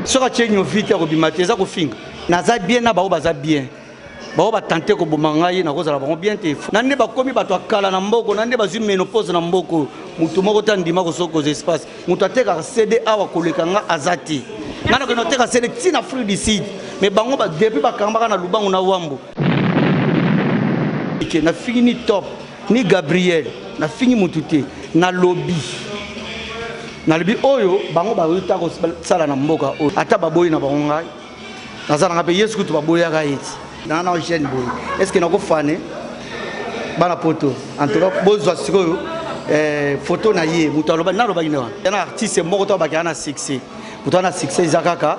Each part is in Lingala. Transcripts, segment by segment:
soki atie nyovi te akobima te eza kofinga naza bien na bango baza bien bango batante koboma ngai nakozala bango bien te na nde bakomi bato ya kala na mboko na nde bazwi menopose na mboko motu moko te andima kosokoza espace moto atekaka cd awa koleka nga aza te ngai nakende oteka cd ti na afrique du sud mais bango depuis bakangaka na lubango na wambo na fini top ni gabriel nafingi motu te nalobi nalobi oyo bango bayota kosala na mboka oyo ata baboyi na bango ngai naza nanga mpe yesu kutu baboyaka ye ti naa na jeune boye estce nakofane bana poto antoka bozwa sikoyo eh, foto na ye moto alobaki nalobaki nde wana yana artiste moko to abakaka na succès moto wana succès eza kaka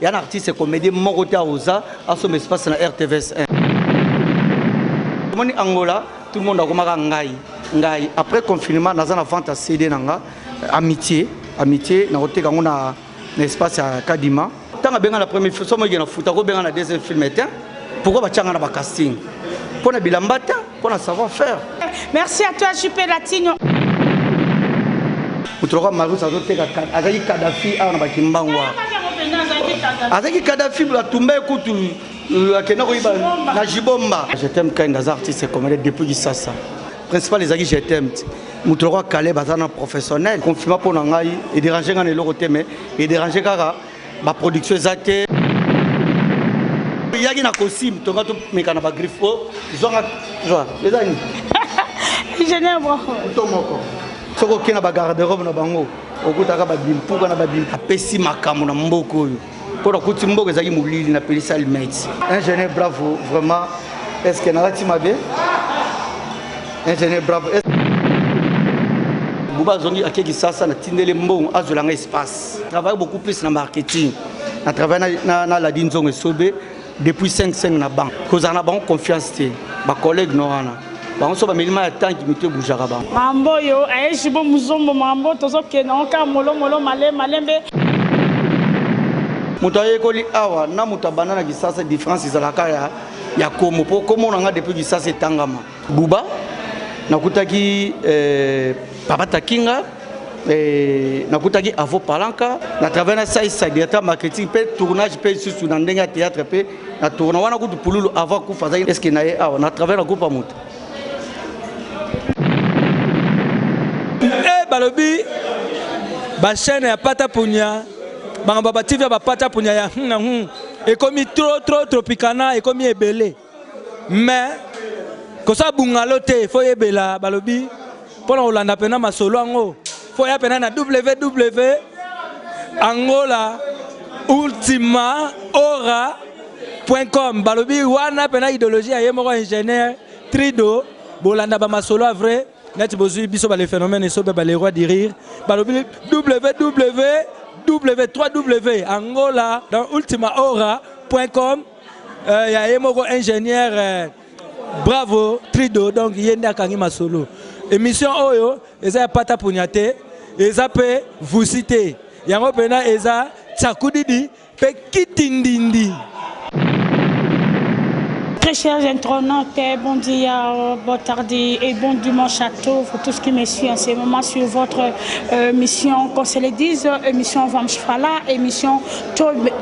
Yana artiste comédie moko te aoza asomba espace na RTVS 1. Omoni Angola tout le monde akomaka ngai ngai après confinement naza na vente ya CD na nga amitié amitié nakoteka yango na na espace ya Kadima. Tanga benga na premier film somo yena futa ko benga na deuxième film te pourquoi ba changa na ba casting pona bilamba te Pour la savoir faire. Merci à toi, JP Latino. moto lokola marus azoteka azalaki kadafi awa na bakimbangu azalaki kadafi atumba ekutu akenda koyiba na jibomba jetem kind aza artiste comede depuis kisasa principal ezalaki jetem ti moto lokola kaleb aza na professionnel confirma mpo na ngai ederange ngai na eloko te mais ederange kaka Ba production eza te. Yaki na costume tonga to meka na ba griffe po oh, zonga zwa. Eza ni. Ingénieur bravo. To moko. Soko kena ba garde-robe na bango okutaka ba bimpuka na ba bimpuka. Apesi makambo na mboko oyo. Ko na kuti mboko ezaki molili na pelisa almeti. Ingénieur bravo vraiment. Est-ce que nalati mabe? Ingénieur bravo. Est buba azongi akeki sasa na tindele mbongo azwela nga espace travaille beaucoup plus na marketing na travaille na, na, na ladi nzongo esobe depuis 55 na banque kozala na bango confiance te bacollègue no wana bango so bameli mai ya tanki mito ebujaka bango mambo oyo ayejibo eh, muzombo mambo tozokende yango kaka molomolo male malembe moto ayekoli awa na moto abanda na kisasa différence ezalaka ya ya komo mpo komona nga depuis kisasa etangama Buba nakutaki eh, Papa Takinga eh, nakutaki Avo Palanka na travers na Sai Sai directeur marketing pe tournage pe susu na ndenge ya théâtre pe na tourna wana kutu pululu avant kufa azaki eske na ye awa na travers na groupe ya moto eh, balobi bachaine ya pata punya bango baba tv ya bapata punya ya hum na hum ekomi trop trop tropicana ekomi ebele mais kosala bungalo te fo yebela balobi mpo na kolanda mpena masolo yango fo ya mpena na ww angola ultima ora point com balobi wana mpena idéologie ya ye moko ingénieur trido bolanda bamasolo ya vrai neti bozwi biso bale phénomène esobe bale roi du rire balobi ww w3w angola dans ultima ora point com euh, ya ye moko ingénieur euh, bravo trido donc ye nde akangi masolo émission oyo eza ya pata punya te eza mpe vusi te yango mpena eza tsakudidi mpe kitindindi Très chers internautes, bon dia, bon tardi et bon dimanche à tous, pour tous qui me suivent en ce moment sur votre euh, mission, qu'on se le dise, émission Vamshfala, émission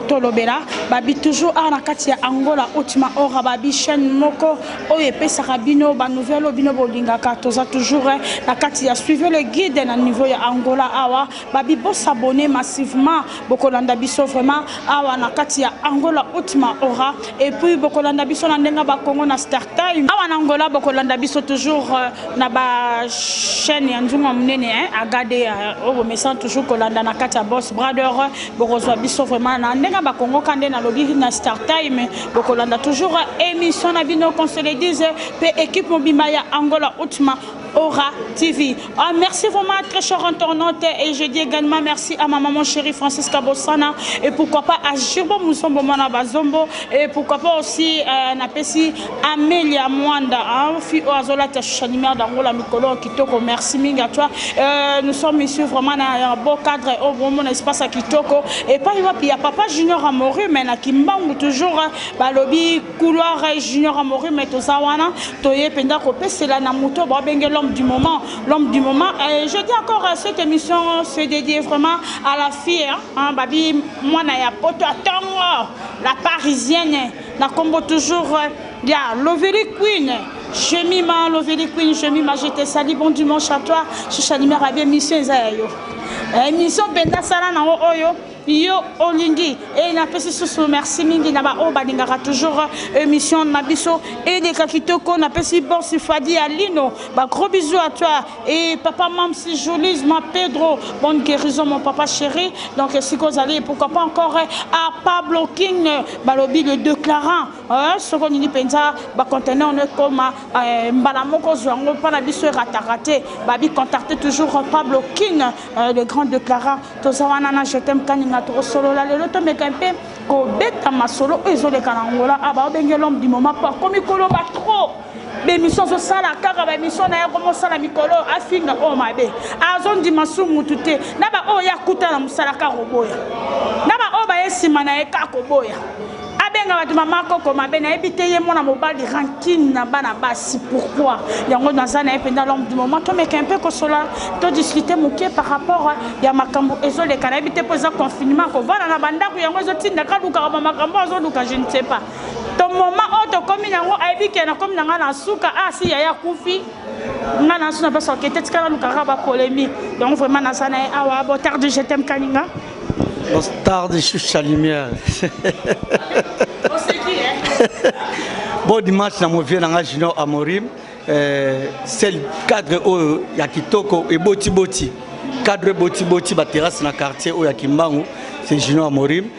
tolobela babi toujours awa na kati ya angola otima ora babi chaîne moko oyo epesaka bino banouvelle oyo bino bolingaka toza toujours eh, na kati ya suivez le guide na niveau ya angola awa babi bosabone massivement bokolanda biso vraiment awa na kati ya angola otima ora et puis bokolanda biso na ndenge bakongo na star time awa na angola bokolanda biso toujours eh, na ba chaîne ya nzunga monene eh, agade oyo bomesana toujours kolanda na kati ya boss brother bokozwa biso vraiment na ndenge ya bakongo ka nde nalobi na star time bokolanda toujours émission na bino consoledise mpe équipe mobimba ya angola utma Aura TV. Ah, merci vraiment à très cher internaute et je dis également merci à ma maman chérie Francisca Bossana et pourquoi pas à Jirbo Mousombo Mana Bazombo et pourquoi pas aussi euh, Napesi Amelia Mwanda, hein, fille oyo azolata Shanimère d'Angola mikolo kitoko. Merci mingi à toi. Euh, nous sommes ici vraiment na un beau cadre au bon mon espace à kitoko. Et pas wapi ya papa Junior Amoru mais na Kimbangu toujours balobi couloir Junior Amoru mais toza wana toye penda ko pesela na moto ba benge l'homme du moment, l'homme du moment. Et je dis encore cette émission se dédie vraiment à la fille hein, babi mwana ya poto atongo la parisienne na kombo toujours euh, ya loveli queen jemima loveli queen jemima je te sali bon dimanche à toi chicha numéro abi émission eza ya yo eh, émission mpenza sala nango oyo yo olingi e napesi susu merci mingi na baoyo balingaka toujours euh, émission na biso eleka kitoko napesi borsi fadi ya lino bagros bisou à toi Et papa Mam's Jolie, ma Pedro, bonne guérison mon papa chéri. Donc si vous allez, pourquoi pas encore à Pablo King, balobi le déclarant. Hein, ce qu'on dit penza, ba conteneur ne comme euh, mbalamoko zwango pas la biso rataraté. Babi contacter toujours Pablo King, euh, le grand déclarant. Tozawana na je t'aime kaninga to solo la le loto mais kempe ko beta masolo ezoleka na ngola aba ah, obenge l'homme du moment pas comme koloba trop. ba emission azosala kaka ba emission na ye akoma osala mikolo oyo afinga oyo mabe azondima su mutu te na baoyo ye akuta na mosala kaka koboya na baoyo baye nsima na ye kaka koboya abenga bato mama koko mabe nayebi te ye mwana mobali rankine na bana basi pourkui yango naza na ye mpenza lombe du moment tomeka mpe kosola todiskute moke par rapport ya makambo ezoleka nayebi te mpo eza confinement kovanda na bandako yango ezotindaka lukaka bamakambo azoluka je ne sais pas to moma oyo tokomi na yango ayebi ke nakomi na ngai na suka a ah, si yaya akufi ngai na nsu na mposa oke te tika nalukaka bapolémique donc vraiment naza na ye awa ah, botarde je t'aime kaninga botarde choucha lumière bon dimanche na movie na ngai junior amorim eh, sel cadre oyo ya kitoko ebotiboti cadre ebotiboti baterrasse na quartier oyo ya kimbangu c'est junior amorim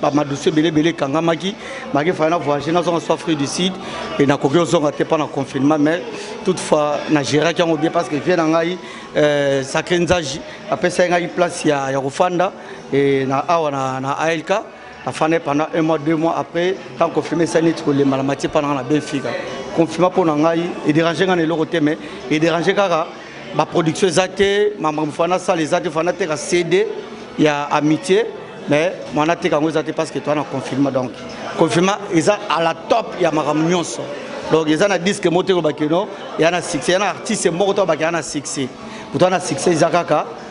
bamadusu ebele ebele ekangamaki maki faya na voyage nazonga so afrique du sud e nakoki ozonga te mpo na confinement mais toutefois na géraki yango bien parce que vie na ngai euh, sacré nzaji apesaki ngai place ya, ya kofanda e na awa na, na alk nafandai pendant un mois deux mois après tant confirme esali neti kolemba na matie mpa na ngai na benfica confirma mpo na ngai ederange ngai na eloko te mais ederange kaka ba production eza te makambo fana asala eza te fana ateka cd ya amitié mais mwana ateka yango eza te parce que toa na confirma donc confirma eza à la top ya makambo nyonso donc eza na disque moko te kobakeno ya na succès ya na artiste moko to abakela na succès kutu na succès eza kaka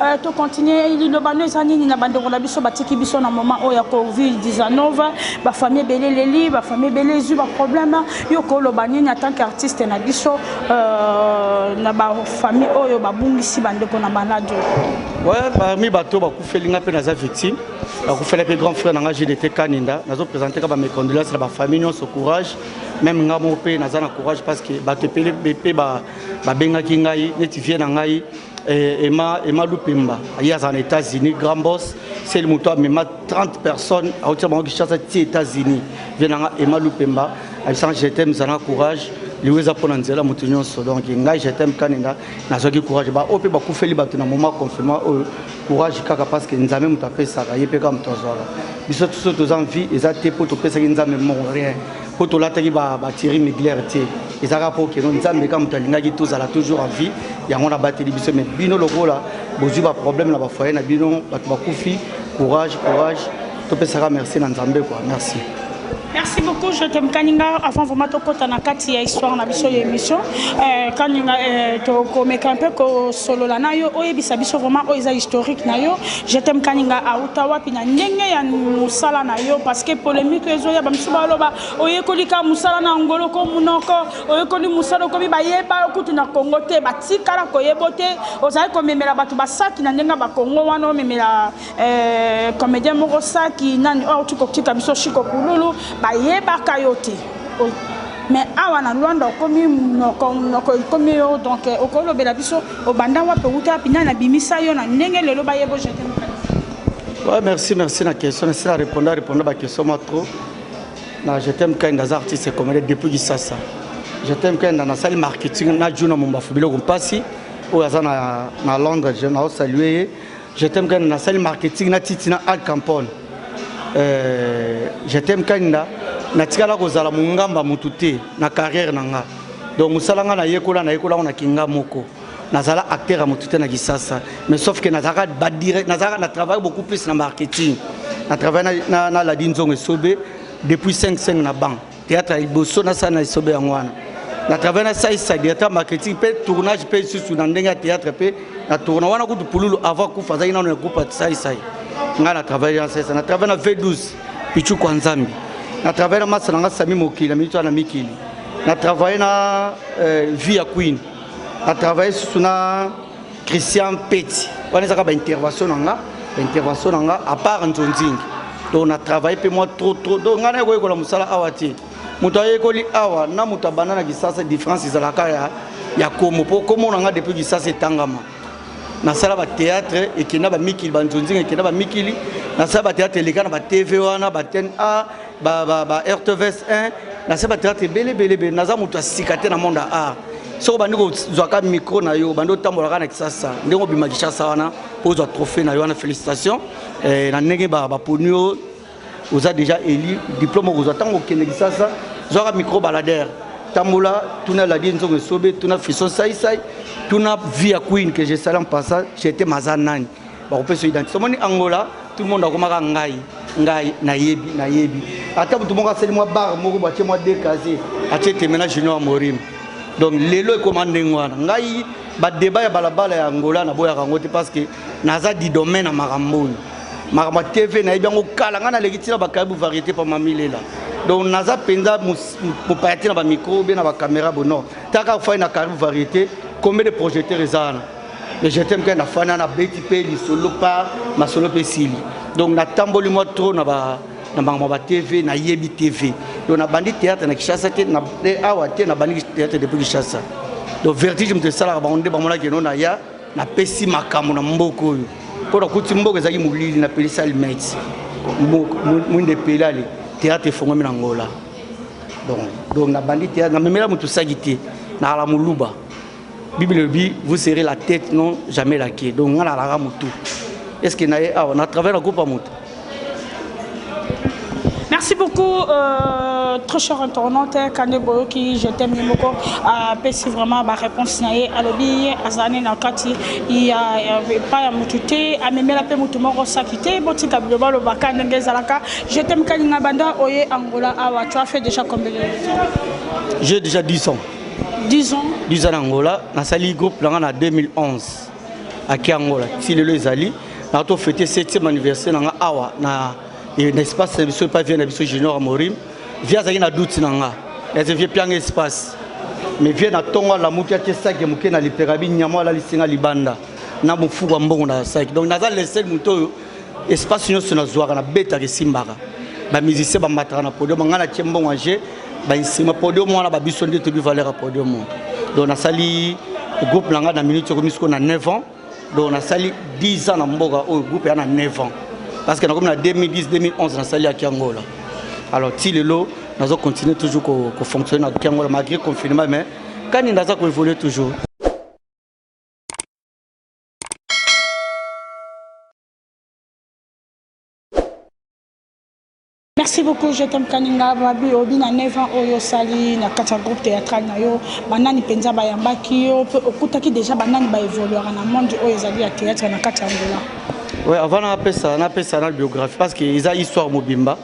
Euh, to continue liloba no eza nini na bandeko na biso batiki biso na moment oyo ya covid 19 bafamille ebele eleli bafamille ebele ezwi baproblème yo koloba nini en tant qu'artiste na biso euh, na bafamille oyo babungisi bandeko na baladio ouais, parmi bato bakufeli nga mpe naza victime bakufela mpe grand frère na nga gdt kaninda nazopresente ka bamécondolence na bafamille nyonso courage meme nga moko mpe naza na courage parce que bato epele mpe babengaki ngai neti vie na ngai Eh, Emma, Emma Lupemba, il y a en États-Unis, grand boss, c'est le mouton, mais 30 personnes, à hauteur de Kinshasa, aux États-Unis. Viens Emma Lupemba, elle sent je t'aime, ça a courage. liweza mpo na nzela moto nyonso donc ngai je t'aime kanenda nazwaki courage baoyo mpe bakufeli bato na moment confinement oyo courage kaka parce que nzambe moto apesaka ye mpe kaka moto azwaka biso biso toza vie eza te mpo topesaki nzambe moko rien mpo tolataki batiri miglaire te eza kaka mpo okeno nzambe kaka moto alingaki tozala toujours en vie yango wana abateli biso mai bino lokola bozwi baproblème na bafoye na bino bato bakufi courage courage topesaka merci na nzambe kua merci Merci beaucoup, je t'aime Kaninga. Avant vraiment de côté na kati ya histoire na biso ya émission, euh Kaninga euh, to komeka un peu ko solo la na yo, oyebisa biso vraiment oyo eza historique na yo. Je t'aime Kaninga auta wapi na ndenge ya musala na yo parce que polemique ezoya ba misuba loba oyekoli ka musala na ngolo ko munoko oyekoli musala okomi bayeba okutu na Congo te batikala koyebo te ozali komemela bato basaki na ndenge ba Congo wana omemela euh, comédien moko saki nani oyo auti kotika biso shiko kululu bayebaka yo te mais awa na Luanda okomi munoko munoko ekomi yo donc okolobela biso Obanda wapi owuta wapi nani abimisa yo na ndenge lelo bayebo je t'aime Ouais, merci, merci na question. Merci na répondre, à répondre ba question moi trop. Na je t'aime quand dans artiste et comédien depuis Kisasa. Je t'aime quand dans la salle marketing na Juna Mumba Fubilo Kumpasi ou azana na Londres, je na saluer. Je t'aime Kanda na sali marketing na Titi na Al Campone. Euh, je t'aime Kanda na tikala kozala mongamba mutu te na carrière na nga. Donc musala nga na yekola na yekola na kinga moko. Nazala acteur ya mutu te na Kisasa. Mais sauf que nazaka ba direct nazaka na travail beaucoup plus na marketing. Na travail na na, na Ladin Zongo Sobe depuis 5 5 na banque. Théâtre ya liboso nasala na esobe yango wana na travail nasalisa directeur marketing mpe tournage mpe lisusu na ndenge ya théâtre mpe na tourna wana kutu pululu avant kufa azalaki nano na groupe ya saisai ngai na travail na saisa na travail na v12 pichu kwa nzambe na travail na masa na ngai sami mokili na minito na mikili na travail na euh, vie ya queen na travail susu na Christian Petit wana ezaka ba intervention na nga ba intervention na nga à part nzonzingi donc na travaille mpe moi trop trop donc ngai nayekoyekola mosala awa te moto ayekoli awa na moto abanda na kisasa différence ezalaka ya, ya komo mpo komo na ngai depuis kisasa etangama nasala bateatre ekenda bamikili banzonzinga ekenda bamikili nasala bateatre eleka na batv wana batn a ba ba ba RTVS 1 na se ba théâtre ebele ebele ebele naza moto ya sika te na monde ya art soki obandi kozwaka micro na yo obandi otambolaka na kisasa ndenge obima kishasa wana mpo ozwa trophée na yo wana félicitation eh, na ndenge baponi yo oza déjà élu diplôme okozwa ntango okende kisasa zwaka micro balader tambola tuna ladie nzongo esobe tuna frison saisai tuna via queen que je sali en passant jete maza nani bakopesa identité omoni angola tout le monde akomaka ngai ngai nayebi nayebi ata motu moko asali mwa bare moko bo atie mwa decase atie temena junior morim donc lelo ekoma ndenge wana ngai badeba ya balabala ya angola naboyaka yango te parce que naza didome na makambo oyo makambo ya tv nayebi yango kala ngai naleki ntina bakayebu variété pa mamilela donc naza mpenza mopaya te na bamicro be na bacaméra bono taka fai na karibu variété combien de projecteur eza wana mais je t'aime kaka fana na beti pe lisolo par masolo pe sili donc na tamboli moi trop na ba na bango ba TV na yebi TV donc na bandi théâtre na Kinshasa te na eh, awa te na bandi théâtre depuis Kinshasa donc vertige moto esalaka bango nde bamonaki eno na ya napesi makambo na mboka oyo mpo nakuti mboka ezalaki molili napelisi alimeti mwinde epeli ale théâtre efongwami na ngola donc donc nabandi théâtre namemela moto osaki te nakala moluba bible elobi vous serez la tête non jamais la quai donc ngai nalaka motu est ce que naye awa na travers na kopa motu Merci beaucoup, euh, très cher internaute, Kande Boyoki, je t'aime beaucoup. Euh, Pessi vraiment ma réponse nae alobi azane na kati il y a pas ya mutute amemela pe mutu moko sakite botika biloba loba kande ngezalaka. Je t'aime kalinga banda oye Angola awa tu as fait déjà combien de Je déjà 10 ans. 10 ans 10 ans na angola nasali groupe na ngai na 2011 ake angola ti lelo ezali na to fete 7e anniversaire na ngai awa na espace na biso epai vie na biso junior amorim vie azalaki na doute na ngai ese vie pianga espace mais vie na ntongo alamuki atie sake moke na liperabi nyamo alalisinga libanda na mofuku ya mbongo na sake donc naza lesel moto oyo espace nyonso nazwaka nabetaka esimbaka bamusicien bambataka na podium ngai natie mbongo ya jeu bansima podium wana babiso nde toyebi valeur ya podium donc nasali groupe na ngai na minute ekomi sikoyo na 9 ans donc nasali 10 ans na mboka oyo groupe ya na 9 ans parce que nakomi na 2010 2011 nasali ya kiangola alors ti lelo nazo continuer toujours kofonctionne ko na kiangola malgré confinement mais kani naza koévolue toujours merci beaucoup je t'aime kaninga babi obi na 9 ans oyo osali na kati ya groupe théâtral na yo banani mpenza bayambaki yo mpe okutaki déjà banani baévoluaka na monde oyo ezali ya théâtre na kati ya angola oui avant napesa napesa na biographie parce que eza histoire mobimba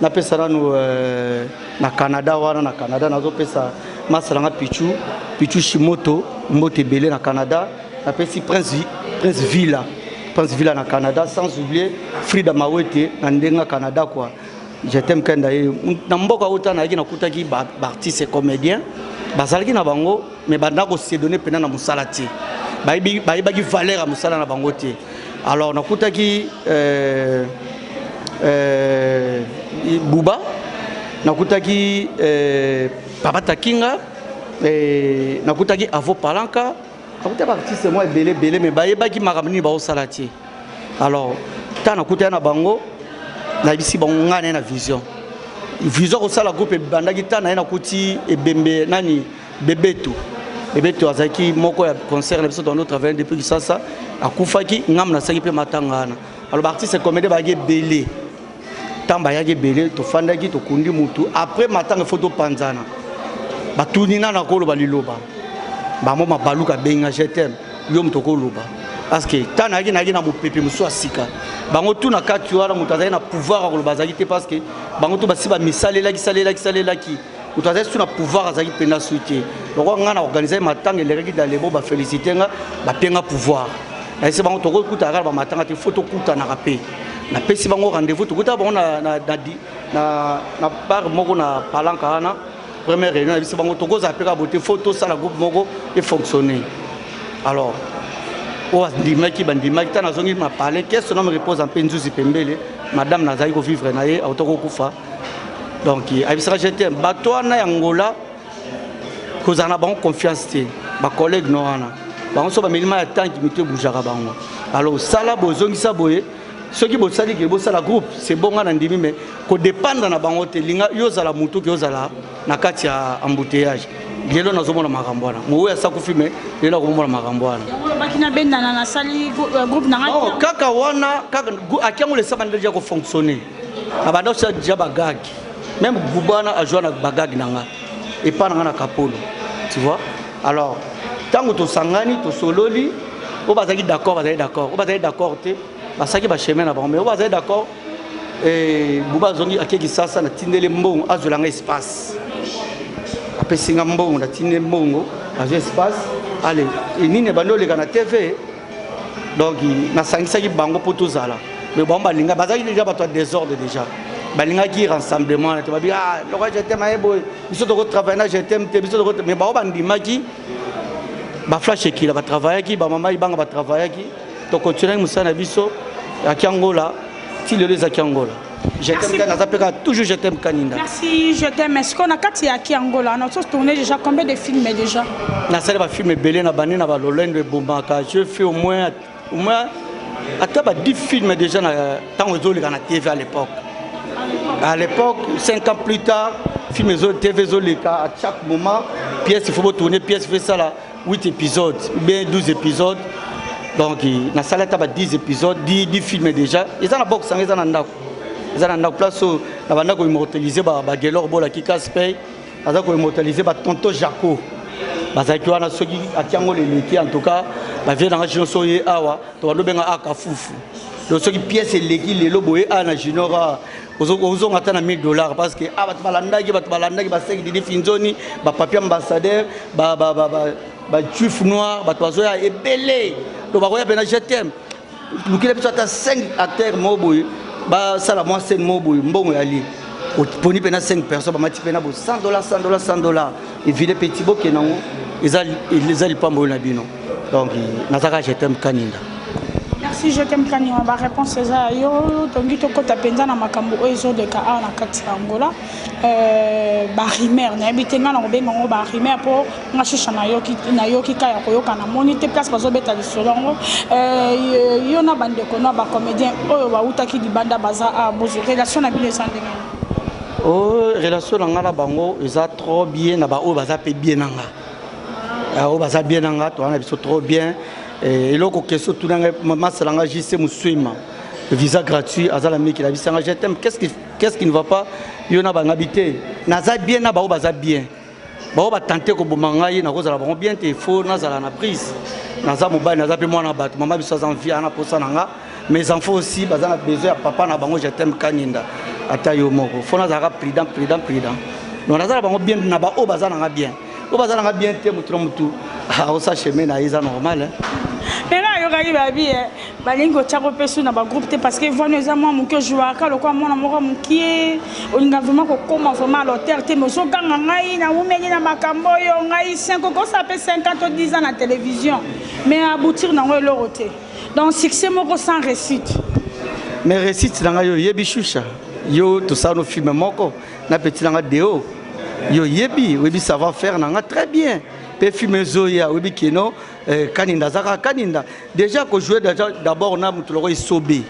napesa nanu euh, na canada wana na canada nazopesa masa nanga pichu pichu shimoto mbote ebele na canada napesi prince, prince villa prince villa na canada sans oublier frida mawete na ndenga canada kua jetem kenda ye na mboka uta nayaki nakutaki baartiste ba comédien bazalaki na bango mais banda ko se donner pena na musala te bayebi bayebaki valeur ya musala na bango te alors nakutaki euh, euh, buba nakutaki euh, papa takinga euh, nakutaki avo palanka nakutaki baartiste mwa ebele ebele mais bayebaki makambo nini baosala te alors ntango nakutaki na bango nayebisi bango ngai naye na vision vision kosala groupe ebandaki ntango naye nakuti ebembe nani bebeto bebeto azalaki moko ya concert na biso dans notre avenue depuis kisasa akufaki ngambo nasalaki mpe matanga wana alors baartiste comédien bayaki ebele ntango bayaki ebele tofandaki tokundi motu après matanga ifo topanzana batuni nano akoloba liloba bango mabaluka abenga je t'aime yo moto okoloba parce que ntango nayaki nayaki na mopepe mosusu ya sika bango tu na kati wana moto azalaki na pouvoir ya koloba azalaki te parce que bango tu basi bamisalelaki salelaki salelaki moto azali surtout na pouvoir azalaki mpenza sui te lokola ngai na organise matanga elekaki dalebo bafélicité nga bapie nga pouvoir nayese bango tokokutana kaka bamatanga te fo tokutanaka mpe napesi bango rendez-vous tokutaka bango na bar moko na palanka wana première réunion na biso bango tokozala mpe kaka bote fo tosala groupe moko efonctionne alors oyo andimaki bandimaki ntango nazongi na palais kese nome repose mpe nzuzi pembele madame nazali kovivre na ye auta kokufa donc ayebisaka je t'aime bato wana ya ngola kozala na bango confiance te bacollègue no wana bango so bamelima ya tanki mito ebujaka bango alors sala bozongisa boye soki bosali ke bosala groupe se bonga na ndimi me kodependre na bango te linga yo ozala motu ke ozala na kati ya embouteillage lelo nazomona makambo wana mowe asakufi me lelo akomona makambo wana euh, kaka wana kaka akiango lesa bandeli ya kofonctionne abanda osa deja bagage meme gubana azwa na bagage na nga epa na nga na kapolo tu vois alors ntango tosangani tosololi oyo bazalaki d'accord bazali d'accord oyo bazali d'accord te basalaki bachemin na bango mais oyo bazali d'accord eh, buba azongi ake kisasa natindeli mbongo azwela nga espace apesi nga mbongo natindeli mbongo azwa espace ale nini ebandi oleka na tv donc nasangisaki bango mpo tozala mais bango balinga bazalaki deja bato ya désordre déjà balingaki rassemblement na te babi ah, loko jetem aye boye biso tokotravaille na jetem te biso toko mais bango bandimaki baflash ekila batravayaki bamama ibanga batravayaki tokontinaki mosala na biso ya kiangola ti lelo eza kiangola Je t'aime Kani, naza peka toujours je t'aime Kaninda. Merci, je t'aime. Est-ce qu'on a kati ya ki Angola? On a tous tourné déjà combien de films déjà? Na sala ba films belé na bani na ba lolendo et bombaka. Je fais au moins au moins ata ba 10 films déjà na tango ezoleka na TV à l'époque. À l'époque, 5 ans plus tard, film ezo TV ezoleka à chaque moment, pièce il faut tourner, pièce fait ça là. 8 episodes ou bien 12 episodes donc nasali ata ba 10 episodes 10, 10 filme déjà eza na box yango eza na ndako eza na ndako place oyo na banda koimmortalise bagelor bolaki caspey aza koimmortalise batonto jaco bazalaki wana soki atiango leleki en tout cas bavie nanga junior so ye awa to bando benga aka fufu donc soki pièce eleki lelo boye a na junior a ozonga ata na 1000 dollars parce que ah bato balandaki bato balandaki baseki didi finzoni bapapier ambassadeur bajuif noir bato bazoya ebele to bakoya mpena je t'aime lukile biso ata 5 acteur moko boye basala mwa scène moko boye mbongo ya lie oponi mpena 5 personne bamati mpena bo 100 dollars 100 dollars 100 dollars Evile petit boke nango eza eza lipambo oyo na bino. Donc nazaka je t'aime kaninga. Merci je t'aime kaninga ba réponse eza yo tongi to kota penza na makambo oyo ezo de ka awa na kati ya Angola. Euh ba rumeur na yebite nga na ko benga ngo ba rumeur po nga shisha na yoki na yoki ka ya koyoka na moni te place bazo beta lisolo ngo. Euh yo na bande ko na ba comédien oyo ba utaki libanda baza a bozo relation na bino eza ndenge. Oh relation na nga na bango eza trop bien na ba oyo baza pe bien na nga ah, oyo baza bien na nga toza na biso trop bien eh, eloko question tuna ngai masala nga jc moswema visa gratuit aza na miki nabisa nga je t'aime qu'est-ce qui, qu'est-ce qui ne va pas yo na bangabi te naza bien na baoyo baza bien baoyo batante koboma ngai nakozala bango bien te fo nazala na prise naza mobali naza mpe mwana bato mama biso aza mvi ana mposa na nga mes enfants aussi baza na besoin ya papa na bango je t'aime kaninda ata yo moko fo nazalaka prudent prudent prudent donc naza na bango bien na baoyo baza nanga bien oyo baza nanga bien te motu na motu aosa ah, chemin na ye eza normal eh. lelo ayokaki babi eh. balingi kotya ko mpe su na bagroupe te parce que vani eza mwa moke ojouaka lokola mwana moko mokie olinga vraiment kokoma vraiment à l'auteur te mais ozoganga ngai naumeli na makambo oyo ngai 5 okosa mpe 5 ans to 10 ans na télévision mais aboutir nango eloko te Donc succès moko sans réussite. Mais réussite na ngai oyebi shusha. Yo tosala no film moko na petit na ngai Deo. Yo yebi, oyebi savoir faire na ngai très bien. Pe film ezoya oyebi kino eh, kaninda azaka kaninda. Déjà ko jouer déjà d'abord na mutu loko isobe.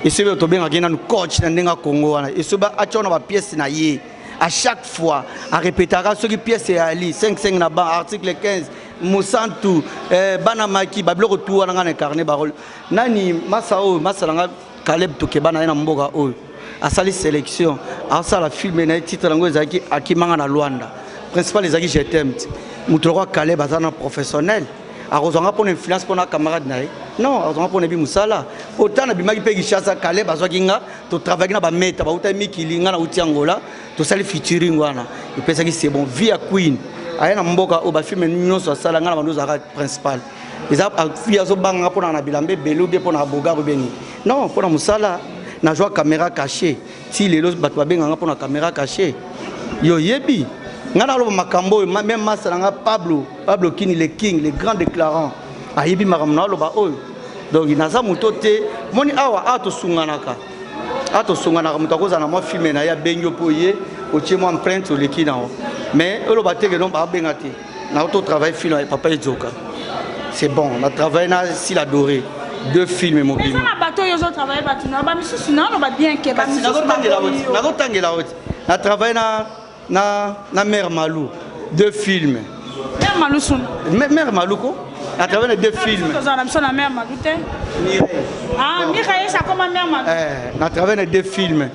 Isobe tobengaki nanu coach na ndenga Congo wana. Isobe atya na ba pièces na ye. À chaque fois, à répéter, à ce qui pièce est Ali, 5-5 na ban, article 15, mosantu eh, bana maki babiloko tu wana ngai na ecarne barole nani masa oyo masa na ngai caleb tokeba na ye na mboka oyo asali sélection asala filme na ye titre yango ezalaki akimanga na lwanda principal ezalaki jetem ti moto lokola caleb aza na professionnel akozwa nga mpona influence mpona camarade na ye non akozwa nga mpona ebi mosala ota nabimaki mpe kishasa caleb azwaki nga totravaillaki na bameta bautaki mikili nga nauti angola tosali featuring wana epesaki c'est bon vie ya queen aya na mboka oyo bafilme nyonso asala ngai na bando ozalaka principal eza vie azobanga nga mponaka na bilamba ebele obie mpo na bogar obie nini non mpo na mosala nazwa caméra caché ti lelo bato babenganga mpo na caméra caché yo oyebi ngai naloba makambo oyo meme masa na ngai pablo pablo kini le king le grand déclarant ayebi makambo naloba oyo donc naza moto te moni awa awa tosunganaka a tosonganaka moto akozala na mwa filme na ye abengi yo mpo oye otie mwa empreinte oleki na yo mais oloba te ke non babenga te na to travaille film ya papa edzoka c'est bon na travaille na sila doré deux films mobimba na bato oyo ozotravaille bato na bamisusu naoloba bien ke bamisusu nazotangela yo ti na travaille na Na na mère Malou deux films. Mère Malou son. Mère Malou ko à travers les deux films. Toza na biso na mère Malou te. Ah Mireille ça comme mère Malou. Eh na travers les deux films.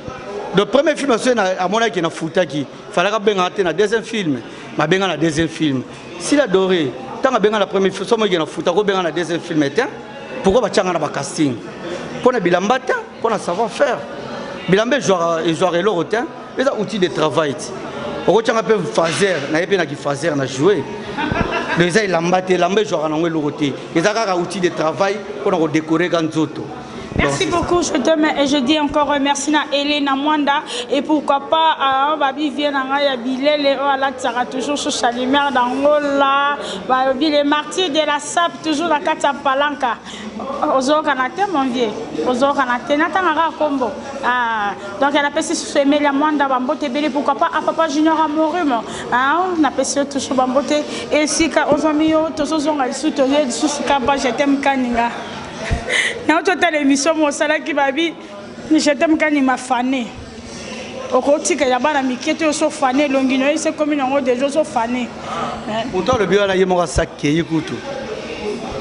Donc premier film c'est na amona qui na futa qui fallait ka benga te na deuxième film. Ma benga na deuxième film. Si la doré tant ka benga na premier film somo qui na futa ko benga na deuxième film était pourquoi ba changa na ba casting. Pona bilambata mpo na savoir faire bilamba ezwaka eloko te eza outil de travail ti okotyanga mpe faser na ye mpe na kifaser na joue donc eza elamba te elamba ezwaka nango eloko te eza kaka outil de travail mpo na kodekoreka nzoto Merci beaucoup, je t'aime et je dis encore euh, merci na Elena Mwanda et pourquoi pas euh, babi vient nanga ya bilele oh la tsara toujours sur Chalimère d'Angola, babi les martyrs de la sap toujours la kata palanka. ozokana te mon vieux ozokana te natanga kaka kombo ah, donc napesi susu emeli ya mwanda bambote ebele pourquoi pas a ah, papa junior amorumo ah, napesi yo toujours bambote esika ozwami yo tozozonga lisusu toye lisusu kaba jetem kaninga nauti otala émission mosalaki babi Je t'aime kanima fane okotika ya bana mike te oso fane elongi no ese komi nango deja oso fane moto alobi wana ye moko asakei kutu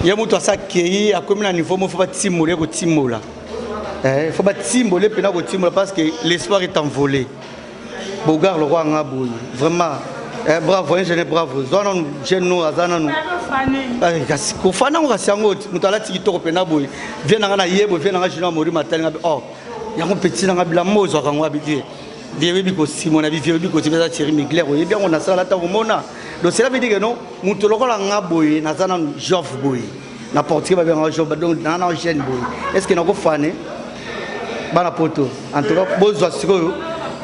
ye moto asakei akomi na niveau moko fo batimola ye kotimola eh, fo batimbola ye mpena kotimola parce que l'espoir est envolé Bogar lokola nga boye vraiment eh, bravo ingene eh, bravo zwa nanu jeune no aza nanu eh, kasi kofana yango kasi yango moto alati kitoko mpena boye vie na nga na ye boye vie na nga junior mori matali nga or oh, yango petit na nga bilamo ozwaka yango abibie vie oyebi kosimona bivie oyebi kosimba eza thierry migler oyebi yango nasala ata komona donc cela veut dire que non moto lokola nga boye naza nanu jove boye na portugais babengaka joba donc naa na gene boye est ce que nakofane bana poto en tout cas bozwa sikoyo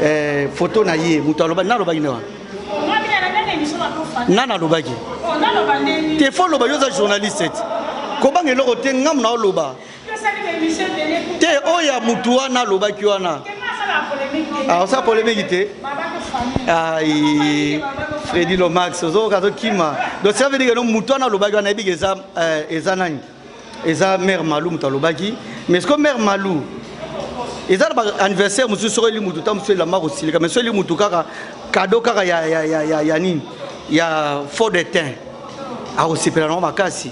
eh, foto na ye moto aloba nalobaki nde wana nga nalobaki te fo oloba yo oza journaliste kobanga eloko te ngamu na oloba te oyo ya mutu wana alobaki wana aosala ah, polemiki te ai fredi lomax ozokoka azokima donc ça veut dire no mutu wana alobaki wana ayebiki eza eh, eza nani eza mare malou moto alobaki mais ce que mare malou eza na baanniversaire mosusu soki eli motu ta mosusu elamba kosilika mais soki eli motu kaka kado kaka ya nini ya fort de tein akosepela nango makasi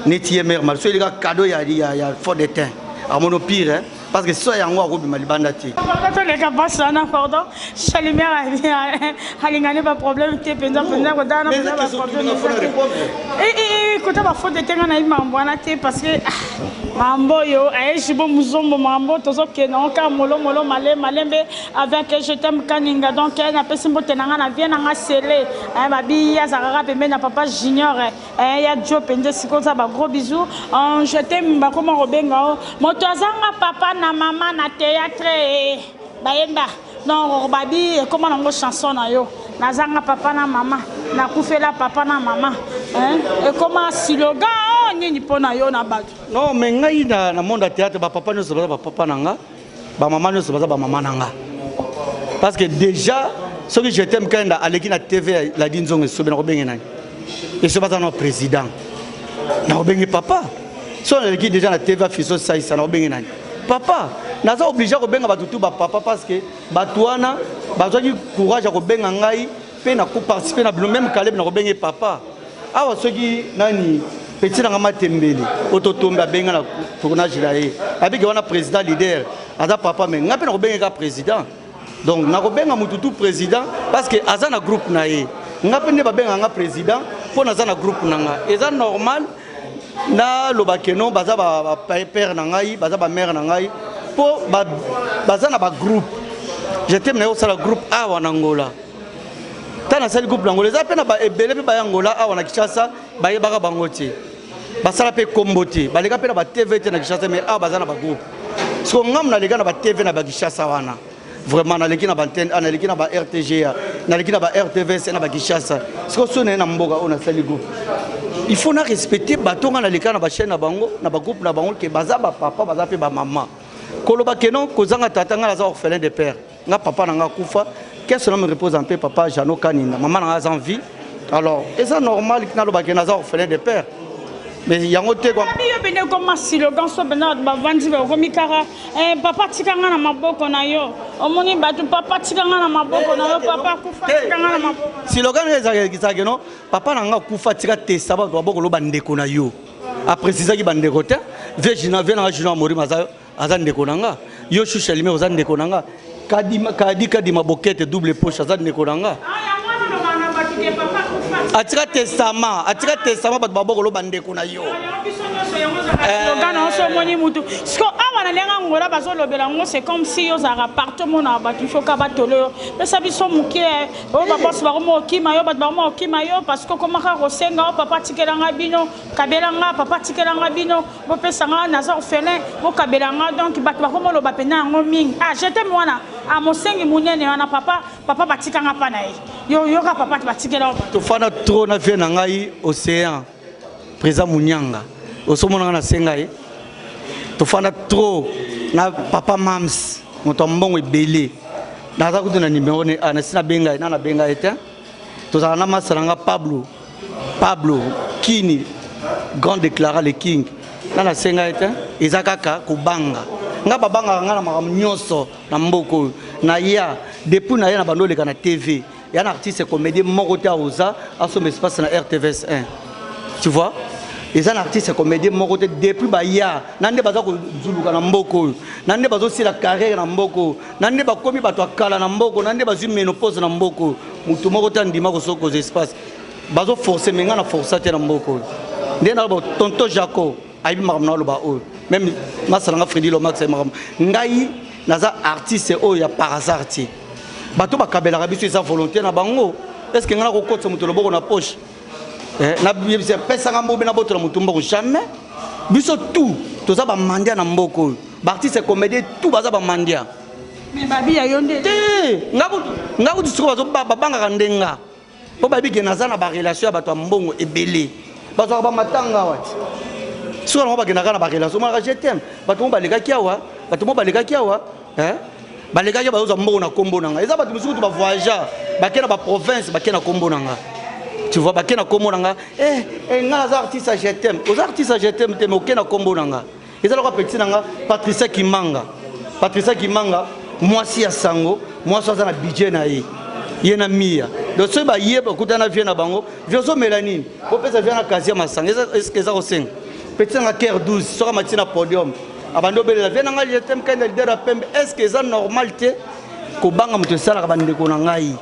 neti ye mère marie so eleka cadeau ya, ya, ya fort de teint amono pire hein? parce que so yango akobima libanda te toleka basi wana pardon chalimere alingani baproblème te mpenza mpenza kotala kota bafaute de tenga nayebi makambo wana te parce que makambo oyo ayeshi bo muzombo makambo tozokenda ngo kaka molomolo male malembe avec je t'aime kaninga donc napesi mbote na ngai na vie na ngai sele babiyi azalaka kaka pembeni na papa junior Eh, ya jo mpenza esika oza ba gros bisou ange te bakoma kobenga o moto azanga papa na mama na théâtre eh, bayemba non babi ekoma nango chanson na yo nazanga papa na mama nakufela papa na mama eh, ekoma silogan oh, nini mpo na yo na bato non me ngai na monde ya théâtre bapapa nyonso baza bapapa na nga ba maman nioso baza ba maman nanga parce que déjà soki je t'aime kanda aleki na tv la di nzongo esobe na kobenge nani esobe aza na président na kobenge papa so naleki déjà na tv afiso saisa na kobenge nani papa naza oblige ya kobenga bato tu bapapa parce que bato wana bazwaki courage ya kobenga ngai mpe na koparticipe na bino meme kalebe na kobenge papa awa soki nani petit nanga matembele oto tombe abenga na tournage na ye abiki wana président leader aza papa me ngai mpe nakobengeka président donc nakobenga motu tu président parce que aza na groupe na ye ngai mpe nde babenga nga président mpo naza na groupe na nga eza normal naloba keno baza bapere na ngai baza bamare na ngai mpo baza na bagroupe je teme na ye kosala groupe awa na ngola ntango nasali groupe na angola eza mpe na ebele mpe baya angola awa na kinshasa bayebaka bango te basala mpe nkombo te baleka mpe na batv te na kinshasa mai awa baza na bagroupe siko ngamu naleka na batv na bakinshasa wana vraiment naleki na bantene ah, naleki na ba rtga naleki na ba rtvc na bakinshasa siko so naye na mboka oyo nasali groupe il faut na respecte bato nga naleka na bachaine na bango na bagroupe na bango ke baza bapapa baza mpe bamama koloba ke non kozanga tata ngai naza orphelin de père nga papa na nga akufa qu'est-ce que me repose en paix papa Jeannot Kanina maman na nga aza en vie alors eza normal naloba ke naza orphelin de père mais yango te quoi abi yo bende ko masilo ganso benda ba vandi ba ko mikara eh papa tika nga na maboko na yo omoni batu papa tika nga na maboko na yo papa kufa tika nga na maboko silogan eza eza ke non papa na nga kufa tika te sabatu ba boko lo ba ndeko na yo a precisaki ba ndeko te vieux Gina vieux na Gina Mori mazayo aza ndeko na nga yo shusha lime oza ndeko na nga kadima kadi kadima bokete double poche aza ndeko na nga atika testama atika testama bato baboko loba ndeko na yo slogan na oso omoni mutu siko awa na ndenge angola bazolobela yango c'est comme si ozalaka parti omona bato ifoka batolo yo pesa biso moke oyo babosi bakoma okima yo bato bakoma okima yo parce que okomaka kosenga o papa tikelanga bino kabelanga papa tikelanga bino bopesa nga naza orphelin bokabela nga donc bato bakomoloba mpenza yango mingi ah jete mwana ah mosengi monene wana papa papa batika nga mpa na ye yo yoka papa batikela tofanda tro na vie na ngai océan présa monyanga osomona nga nasenga ye tofanda tro na papa mams moto ya mbongo ebele naza kutu na nimero ne ah, nasi nabenga ye na nabenga ye te tozala na masa na nga pablo pablo kini grand déclara le king nga nasenga ye te eza kaka kobanga nga babangaka nga na makambo nyonso na mboka oyo naya depuis naya na bando oleka na tv ya na artiste comédien moko te aoza asomba espace na rtvs 1 tu vois eza na artiste comédien moko te depuis baya na nde baza kozuluka na mboka oyo na nde bazosila carrière na mboka oyo na nde bakomi bato ya kala na mboko na nde bazwi menopose na mboko oyo motu moko te andima kosokoza espace bazoforce me ngai na forsa te na mboko oyo nde naloba tonto jaco ayebi makambo na aloba oyo meme masala nga fredi lomax ayebi makambo ngai naza artiste oyo ya par hasard te bato bakabelaka biso eza volonté na bango est ce que ngai nakokotisa moto loboko na poche Eh, na yebisa pesa nga mbobe na boto na mutumba ko jamais biso tout toza ba mandia na mboko oyo ba artiste comédien tout baza ba mandia mais babi ya yo nde te nga ko nga ko tsiko bazo ba banga ka ndenga po babi ke naza na ba relation ya bato ya mbongo ebele bazo ka ba matanga wa siko na ba ke na ka na ba relation mara je t'aime bato mo baleka kiawa bato mo baleka kiawa eh? balekaki bazozwa mbongo na kombo na ngai eza bato mosusu kutu bavoyageur bake na baprovince bake na kombo na ngai tu vois bake na kombo na ngai eh, eh, ngai naza artiste ya jetem oza artiste ya jetem te me oke na kombo na ngai eza loko apeti na ngai patricia kimanga patricia kimanga mwasi ya sango mwasi aza na budget na ye ye na miya donc soki baye bakuta na vie na bango vie ozomela nini bopesa vie na kasia masanga eza kosenga petit nanga care 12 soki amati na podium abandi obelela vie na ngai je t'aime kenda leader ya pembe est ce que eza normal te kobanga moto esalaka bandeko na ngai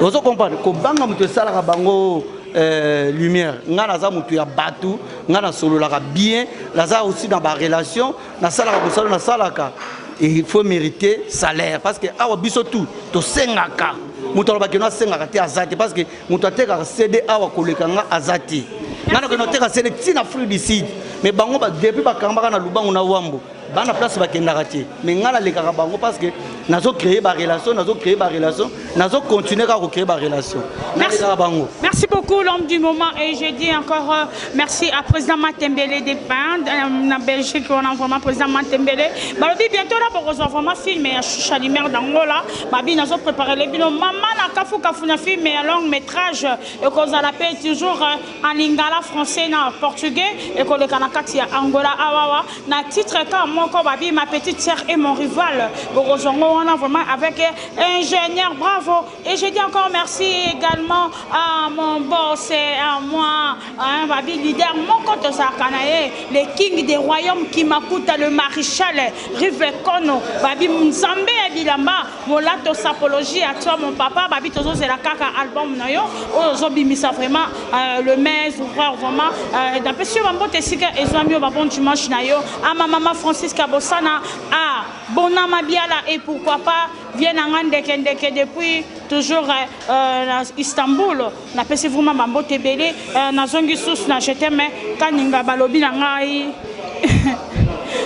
ozo comprendre kobanga moto esalaka bango euh, lumière ngai naza moto ya bato ngai nasololaka bien naza aussi na barelation nasalaka mosala nasalaka il faut mériter salaire parce que awa biso tout tosengaka moto alobaki no asengaka te aza te parce que moto atekaka cd awa koleka nga aza te nga nakende oteka cd ti na afrique du sud mais bango depuis bakambaka na lubangu na wambo bana place bakendaka te mais nga nalekaka bango parce que nazo créer barelation nazo créer barelation nazo continuer kaka kocréer barelation nalekaka bango merci beaucoup l'homme du moment et je dis encore euh, merci à président matembele de pin euh, na belgique wana vraiment président matembele balobi bientôt na bokozwa vraiment film ya choucha lumière d'angola Babi nazo preparele bino mama na kafu kafu na film ya long metrage ekozala pe toujours en lingala français na portugais ekoleka na kati ya angola awawa na titre ka moko babi ma petite sœur et mon rival bokozwa ngo wana vraiment avec ingénieur bravo et je dis encore merci également à mon boss et à moi hein, babi leader moko tozalaka na ye le king des royaumes kimakuta le maréchal Rive Kono babi nzambe ya bilamba molato sapologie à toi mon papa babi tozozela kaka album na yo oyo ozobimisa vraiment euh, le mes ouvreur vraiment euh, napesi yo bambote esika ezwami yo babon dimanche na yo ama mama francisca bosana a bona mabiala et pourquoi pas vie na nga ndeke ndeke depuis toujours euh, euh na istanbul Na pesi vraiment ba mbote ebele eh, na zongi sous na je t'aime kaninga balobi na ngai